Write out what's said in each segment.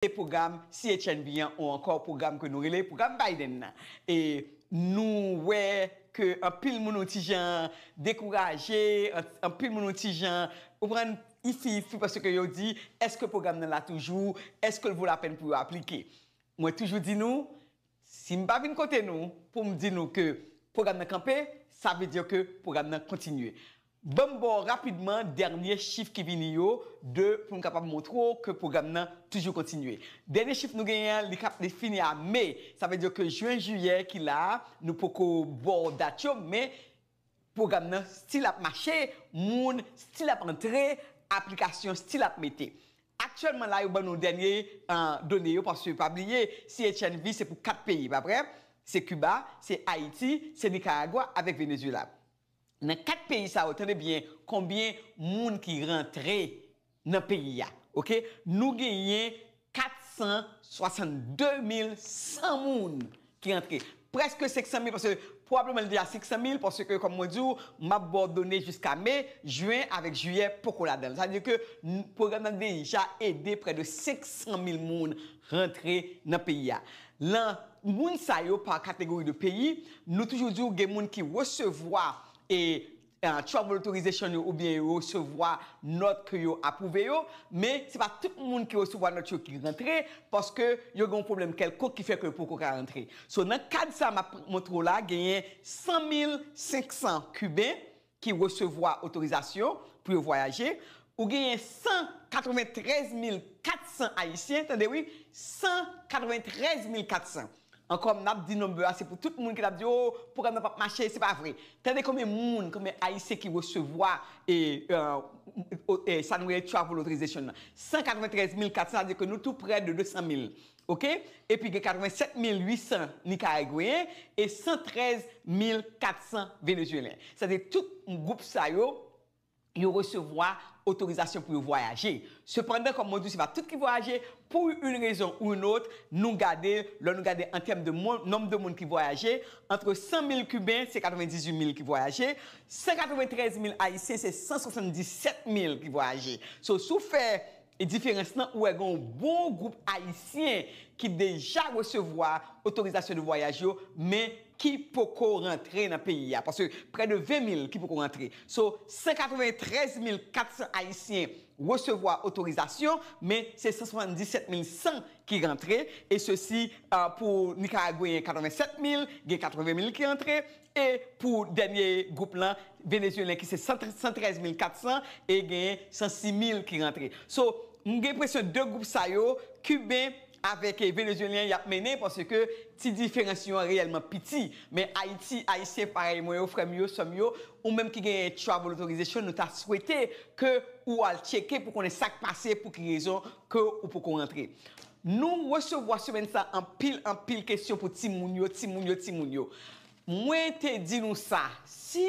e pwogram CHNB an ou ankò pwogram ke nou rele pwogram Biden nan. E nou wè ke anpil moun yon ti jan dekouraje, anpil moun yon ti jan, ou konprann, ifi ifi paske yo di, èske pwogram nan la toujou? Èske l vo lapèn pou yo aplike? Mwen toujou di nou, si m pa vin kote nou pou m di nou ke pwogram nan kanpe, sa vle di ke pwogram nan kontinye. Ban m ba w rapidman dènye chif ki vini yo, de pou m kapab montre w ke pwogram nan toujou kontinye. Dènye chif nou genyen an, li kap li fini a me. Sa vle di ke jen, jiyè ki la a, nou poko ba w dat yo, men pwogram nan stil ap mache, moun stil ap antre, aplikasyon stil ap mete. Aktyèlman la yo ban nou dènye done yo paske pa bliye CHNV se pou 4 peyi, pa vre? Se Kiba, se Ayiti, se Nikaragwa avèk Venezyela. nan 4 peyi sa yo tande byen konbyen moun ki rantre nan peyi a ok nou genyen 462100 moun ki rantre preske 500000 paske pwobableman li deja 500000 paske kòm mwen diw map baw done jiska me juin avèk jiyè poko ladanl sa vle di ke pwogram nan deja ede prè de 500000 moun rantre nan peyi a Lan moun sa yo par catégorie de pays, nou toujou di w gen moun ki resevwa e travel authorization yo oubyen yo resevwa nòt ke yo apwouve yo, men se pa tout moun ki resevwa nòt yo ki rantre paske yo gen yon pwoblèm kèlkonk ki fè ke yo poko ka rantre. So nan kad sa map montre w la genyen 100 mil 500 kiben ki resevwa otorizasyon pou yo vwayaje, ou genyen 193 mil 400 ayisyen, tande wi, 193 mil 400. Ankò m ap di number a se pou tout moun ki t ap di oh pwogram nan p ap mache, se pa vre. Tande konbyen moun, konbyen ayisyen ki resevwa e sa nou rele travel authorization nan, 193 mil 400, sa vle di ke nou tou prè de 200 mil. Ok, epi gen 87 mil 800 Nikaragweyen e 113 mil 400 Venezuelen. Sa vle di tout gwoup sa yo, yo resevwa otorizasyon pou yo vwayaje. Sepandan, kòm mwen di w, se pa tout ki vwayaje, pou youn rezon ou youn lòt, nou gade, lò nou gade an tèm de moun, nonb de moun ki vwayaje, antre 100 mil Kiben, se 98 mil ki vwayaje, 193 mil Ayisyen, se 177 mil ki vwayaje. So, si w fè E diferans lan ou wè gen yon bon gwoup ayisyen ki deja resevwa otorizasyon de vwayaj yo men ki poko rantre nan peyi a paske prè de 20 mil ki poko rantre so 193 mil 400 ayisyen resevwa otorizasyon men se 177 mil 100 ki rantre e sesi pou nikaragweyen 87 mil gen 80 mil ki rantre E pou dènye gwoup lan, Venezuelyen ki se 113 mil 400 e genyen 106 mil ki rantre. So, m gen enpresyon 2 gwoup sa yo, Kiben avèk Venezuelyen y ap mennen paske ti diferans yo an reyèlman piti. Men Ayiti, Ayisyen parèy mwen yo, frè m yo, sè m yo, ou menm ki gen travel authorization, nou ta swete ke ou al tcheke pou konnen sa k pase, pou ki rezon ke ou poko rantre. Nou resevwa semèn sa anpil anpil kesyon pou timoun yo, timoun yo, timoun yo. Mwen te di nou sa, si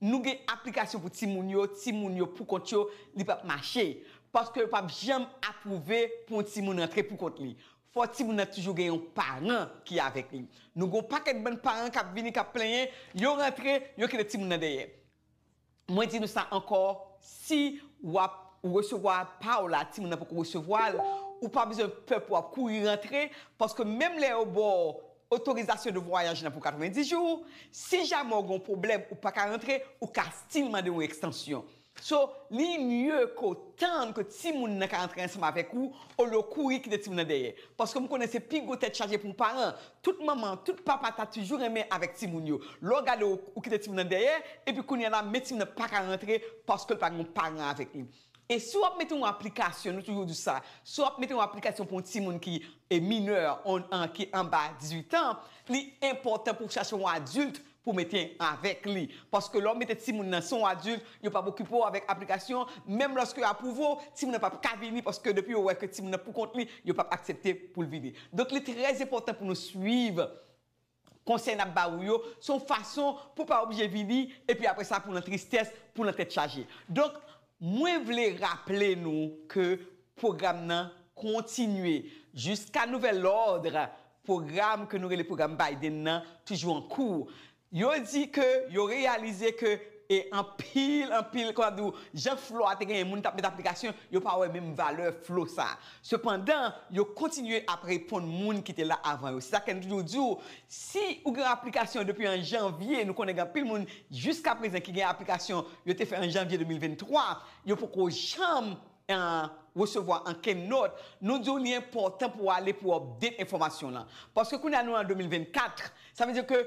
nou gen aplikasyon pou timoun yo, timoun yo pou kont yo, li pap mache. Paske yo pap janm apwouve pou yon timoun rantre pou kont li. Fò timoun nan toujou gen yon paran ki avèk li. Nou gen yon pakèt bann paran kap vini kap plenyen, yo rantre, yo kite timoun nan dèyè. Mwen di nou sa ankò, si w ap resevwa pa w la, timoun nan poko resevwa l, ou pa bezwen pè pou w ap kouri rantre, paske menm lè yo ba w otorizasyon de vwayaj la pou 90 jou, si jamè w gen yon pwoblèm ou pa ka rantre, ou ka still mande yon ekstansyon. So, li mye ke w tann ke timoun nan ka rantre ansanm avèk ou, olye w kouri kite timoun nan dèyè. Paske m konnen se pi gwo tèt chaje pou yon paran. Tout manman, tout papa ta tuju renmen avèk timoun yo. Lè w gade w, ou kite timoun nan dèyè, epi kounye a la, men timoun nan pa ka rantre paske l pa gen yon paran avèk li. E si w ap mete yon aplikasyon, nou toujou di sa, si w ap mete yon aplikasyon pou yon timoun ki minè, ki anba 18 an, li enpòtan pou w chache yon adilt pou mete avèk li paske lè w mete timoun nan son w adilt yo pap okipe w avèk aplikasyon menm lòske yo apwouve w timoun nan pap ka vini paske depi yo wè ke timoun nan pou kont li yo pap aksepte pou l vini donk li trè enpòtan pou nou swiv konsèy nap ba ou yo son fason pou pa oblije vini epi apresa pou nan tristès pou nan tèt chaje donk Mwen vle raple nou ke pwogram nan kontinye. Jiska nouvèl lòd, pwogram ke nou rele pwogram Biden nan toujou an kou. Yo di ke yo reyalize ke e anpil, anpil, kòman ap di ou, jan flo a te genyen moun tap met aplikasyon, yo pa wè menm valè flo sa. Sepandan, yo kontinye ap reponn moun ki te la avan yo. Se sa k fè nou toujou di w, si ou gen yon aplikasyon depi an janvye, nou konnen gen anpil moun jiskaprezan ki gen aplikasyon yo te fè an janvye 2023, yo poko janm resevwa ankenn nòt, nou di w li enpòtan pou w ale pou w update enfòmasyon w lan. Paske kounye a nou an 2024, sa vle di ke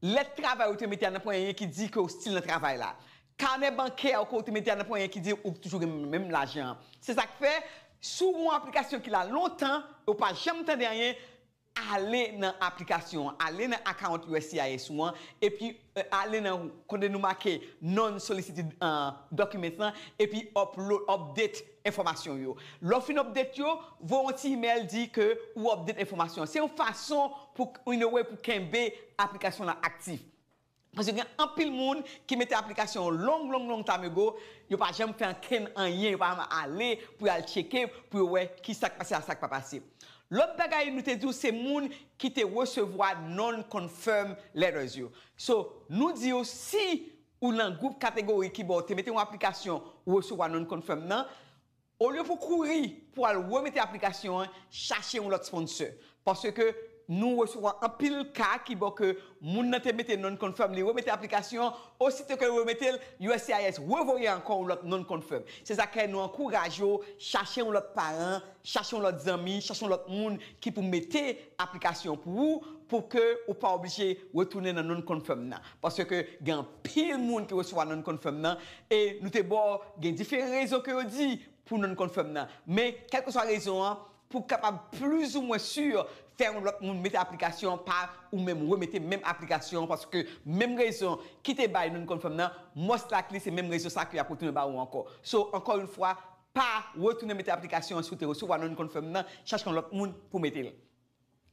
Lèt travay ou te mete a nan ponyen ki di ke ou stil nan travay la. Kanè bankè ou ke ou te mete a nan ponyen ki di ou toujou gen menm lajan an. Se sa k fè, si w gen yon aplikasyon ki la lontan e ou pa janm tande anyen, ale nan aplikasyon an, ale nan account uscis ou an, epi ale nan kote nou make Non-Solicited Documents lan, epi upload, update, enfòmasyon w yo. Lè w fin update yo, voye yon ti imèl di ke ou update enfòmasyon an. Se yon fason pou in a way pou kenbe aplikasyon lan aktif. Paske gen anpil moun ki mete aplikasyon yo long long long time ago, yo pa janm fè ankenn anyen, yo pa janm ale pou yo al tcheke pou yo wè ki sa k pase ak sa k pa pase. Lòt bagay nou te di w se moun ki te resevwa non-confirm letters yo. So, nou di w si ou nan gwoup kategori ki ba w te mete yon aplikasyon ou resevwa non-confirm nan, olye pou w kouri pou al remete aplikasyon an, chache yon lòt sponsor. Paske nou resevwa anpil ka ki bo ke moun nan te mete non-confirm, li remete aplikasyon an, osito ke l remete l, uscis revoye ankò yon lòt non-confirm. Se sa k fè nou ankouraje w chache yon lòt paran, Chache yon lòt zanmi, chache yon lòt moun ki pou mete aplikasyon an pou ou, pou ke ou pa oblije retounen nan non confirm nan. Paske ke gen anpil moun ki resevwa non confirm nan, e nou te ba w gen diferan rezon ke yo di pou non confirm nan. Men, kèlkeswa rezon an, pou w kapab plis ou mwen sur, fè yon lòt moun mete aplikasyon an, pa ou menm remete menm aplikasyon an, paske menm rezon ki te bay non confirm nan, most likely se menm rezon sa ke y ap retounen ba ou ankò. So, ankò yon fwa, pa retounen mete aplikasyon an si w te resevwa non confirm nan, chache yon lòt moun pou mete l.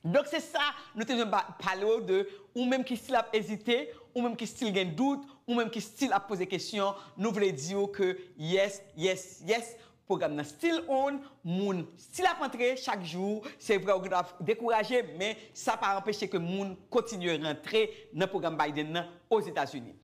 Donk se sa nou te bezwen pale w de, ou menm ki stil ap ezite, ou menm ki stil gen dout, ou menm ki stil ap poze kesyon, nou vle di w ke yes, yes, yes, pwogram nan stil on, moun stil ap antre chak jou, se vre ou gen dwa dekouraje men sa pa anpeche ke moun kontinye rantre nan pwogram Biden nan Ozetazini.